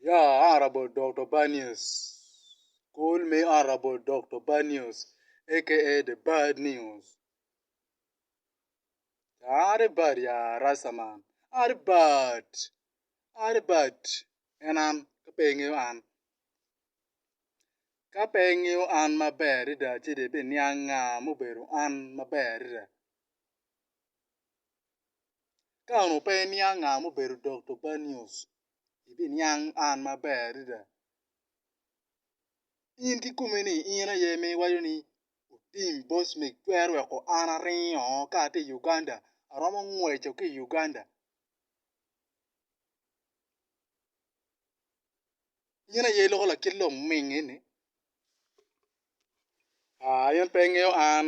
Yeah honourable Doktor Banios call me honourable Doktor Banios aka the bad news are the bad ya rasta man are the bad are the bad en an ka pe ingeyo an ka pe ingeyo an maber adada ci dong ibiniang nga ma obedo an maber adada. Ka onongo pe iniang nga ma obedo Dokto Banyos, ibiniang an maber adada. In ki komi ni in aye ma iwaco ni tim boss me twero weko an aringo oo ka ati i Uganda, aromo ngweco ki i Uganda. In aye iloko lakit loming eni? Aa in pe ingeyo an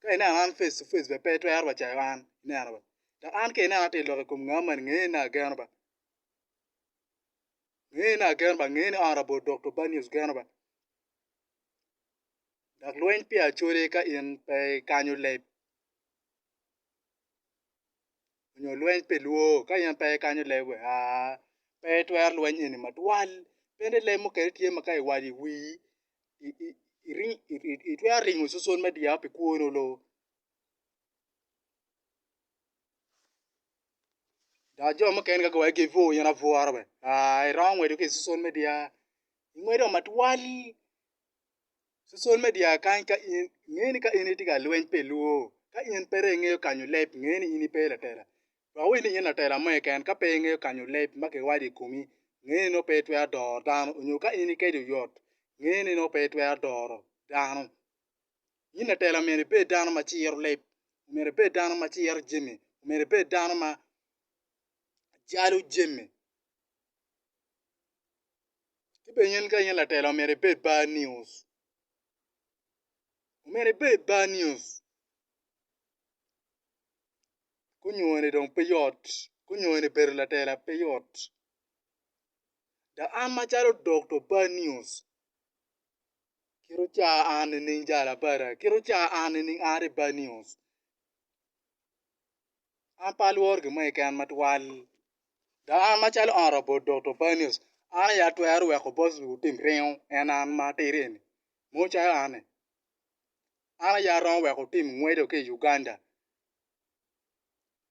Ka ineno an face to face bene pe itwero bene cayo an, ineno ba. Dok an ka ineno atye ka lok i kom ngau mani, ngeye ni ageno ba. Ngeye ni ageno ba, ngeye ni honourable Doktor Banius geno ba. Dok lweny peya acwali ka in pe ikanyo leb. onyo lweny pe lwo ka in pe ikanyo leb we aa pe itwero lweny eni matwal bene leb mukene tye ma ka iwaco i wii itwero ringo cuswal me dyao pi kwoni onongo dok jo mukene ka giwaco gin pur in abworo we aa iromo ngweco ki cuswal me dyar ingwedo matwal Social media kany ka in nge ni ka in itye ka lweny pi lwor, ka in pere ingeyo kanyo leb nge ni in ipe latela. Dok wed ni in latela mo keken ka pe ingeyo kanyo leb ma kiwaco i komi nge ni nongo pe itwero doro dano onyo ka in ikeci oyot nge ni nongo pe itwero doro dano. In latela myero ibed dano ma ciro leb, myero ibed dano ma ciro jami, myero ibed dano ma jalo jami. Ci bene in ka in latelo omyero ibed bar news, omyero ibed bar news kunyone dong pe yot kunyone bedo latela pe yot dok an macalo dokto bar news kit ocawa an nining jalo abada kit ocawa an nining an aye bar news. an pe alworo gin mo keken matwal. Dok an macalo honourable Doktor Banios, an aye atwero weko bot lutim ringo en an ma atidi eni mo calo an-ni, an aye aromo weko tim ngweco ki i Uganda.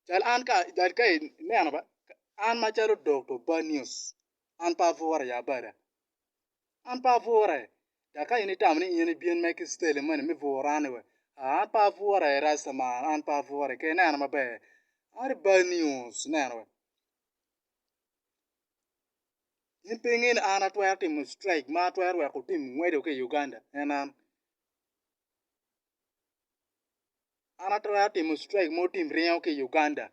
Cal an ka cal ka ineno ba an macalo Doktor Banios an pe abworo ya bada. An pe abwure, dok ka in itamo ni in ibin me ki citeli moni me bwura-ni we, aa, an pe abwure, Rasta man, an pe abwure, ker ineno maber, are bad news, ineno we. In pe inge ni an atwero timo strike ma atwero weko tim ngweco ki i Uganda, en an? An atwero timo strike mogo tim ryeo ki i Uganda,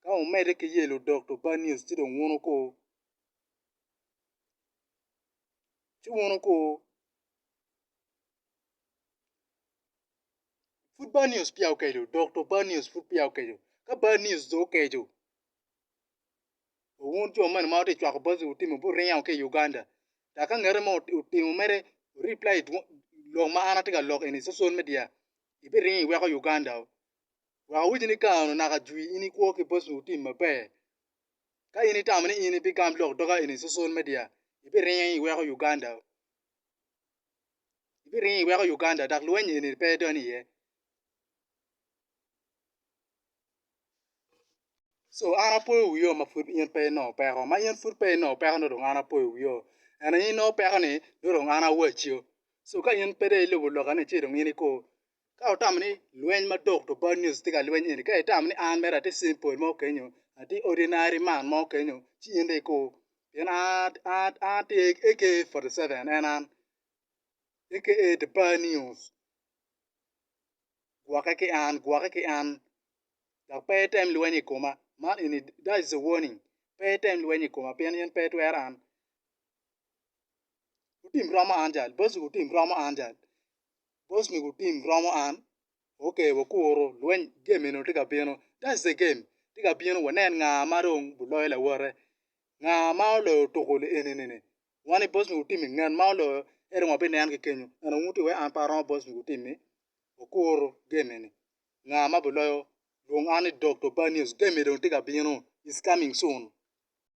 ka wumedde ki yelo doctor bad news ci dong wun wuko. ci wun ogo pud bad news peya okeco dok to bad news pud peya okeco ka bad news dong okeco wun jo mene ma wutye ka cwako bad news wuringo wa ki i Uganda dok ka ngete mo otimo mere wu reply lok ma an atye ka lok eni i social media ibiringo iweko Uganda oo wek awacci ni kare naka jwi in ikwo ki bad news maber. Ka in itamo ni in ibigam lok doga eni i social media, ibiringo iweko Uganda. Ibiringo iweko Uganda dok lweny eni pe idony iye. So an apoyo wio ma pud in pe inongo peko, ma in pud pe inongo peko nongo dong an apoyo wio. Ento in inongo peko ni nongo dong an awacio. So ka in pe dong ilubo loka-ni ci dong in iko Ka wutamo ni lweny ma Dokto Bad News tye ka lweny eni, ka itamo ni an mere atye cen pol mo kenyo, atye ordinary man mo kenyo, ci in dong ikur. Pien an, an, an atye AK-47, en an, aka The Bad News. Gwokke ki an, gwokke ki an. Dok pe item lweny i koma. Man eni, that is a warning. Pe item lweny i koma pien in pe itwero an. Wutim romo an jal, boss-gu otim romo an jal. boss me gu team romo an ok wakuru lweny game eni tye ka bino that's the game tye ka bino wanen nga ma dong bu loyo lawote nga ma oloyo tuku li eni ni wan i boss me gu team ngat ma oloyo en aye wa bi nen ki kenyo ento wun wutye ka weko an pe aromo boss me gu team ni wakuru game eni nga ma bu loyo lwong an ni Dokto Bad news game eni dong tye ka bino it's coming soon.